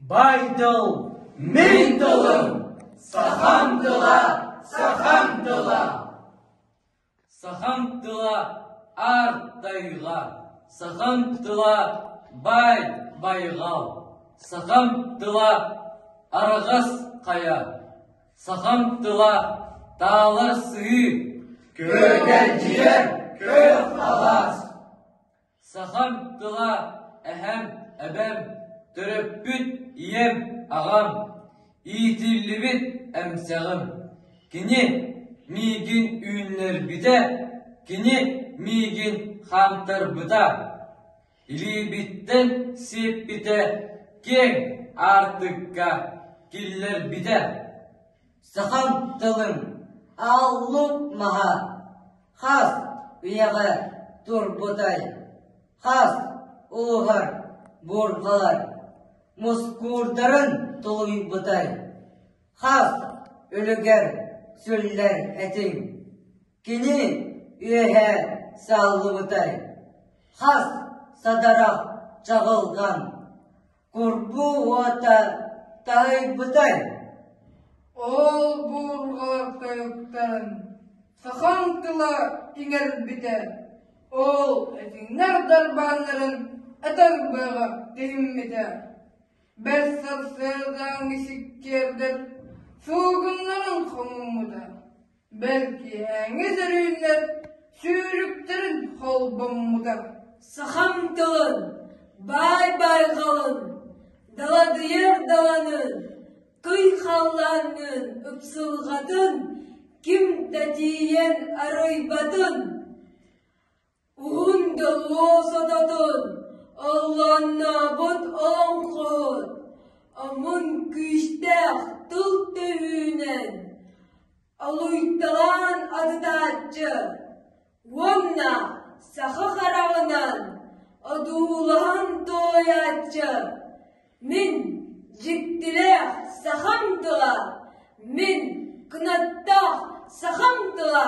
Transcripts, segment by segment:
Байтал мин тылым сахам тыла, сахам тыла. Сахам тыла аар тайга, сахам тыла бай байгал, сахам тыла араҕас хайа, сахам тыла таала сыһыы, күөгэрдьийэр күөх халас. Сахам тыла эһэм, эбэм, төрөппүт ийэм, аҕам, иитиллибит эмсэҕим. Кини миигин үүннэрбитэ, кини миигин хаамтарбыта. Илиибиттэн сиэппитэ киэҥ аартыкка киллэрбитэ. Сахам тылым аллык маһа, хас үйэҕэ турбутай, хас ууһар буурҕалар мускуурдарын тулуйбутай, хас үлүгэр сүллэр этиҥ кини үөһэ саллыбытай, хас садарах чаҕылҕан Курбуу уота таһыйбытай? Ол буурҕа тойуктан сахаҥ тыла иҥэрбитэ ол этиҥнэр дарбааннарын этэр быаҕа тиһиммитэ. Бэс сарсыардааҥҥы сиккиэрдэр суугуннарын хомуммута. Бэргэһээҥҥи сөрүүннэр сүүрүктэрин холбоммута. Сахам тылын, баай-байҕалын, даладыйар даланын, туй халлааҥҥын ыпсылҕатын, ким да тиийэн арыйбатын. Уундэ луосататын алланнаабыт оҥхот омун күүстээх тыл төһүүнэн алуйталаан атытааччы уонна саха хараҕынан одуулаһан туойааччы мин дьиктилээх сахам тыла мин кынаттаах сахам тыла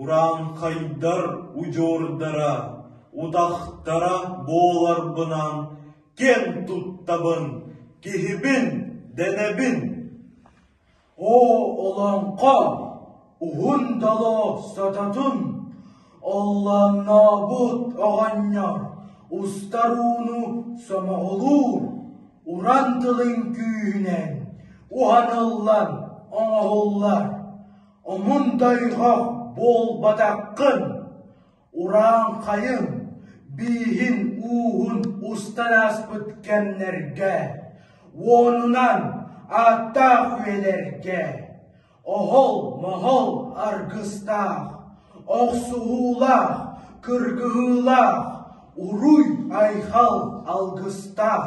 Урааҥхайдар удьуордара, утахтара буоларбынан киэн туттабын, киһибин дэнэбин. Оо, олоҥхо, уһун дало сототун, оллооннообут оҕонньор устар ууну сомоҕолуур уран тылын күүһүнэн уһаныллан оҥоһуллар. Омундайга буолбатаххын, урааҥхайын, бииһин ууһун устар ааспыт кэмнэргэ, уонунан ааттаах үйэлэргэ, оһол-моһол аргыстаах, охсуһуулаах, кыргыһыылаах, уруй-айхал алгыстаах,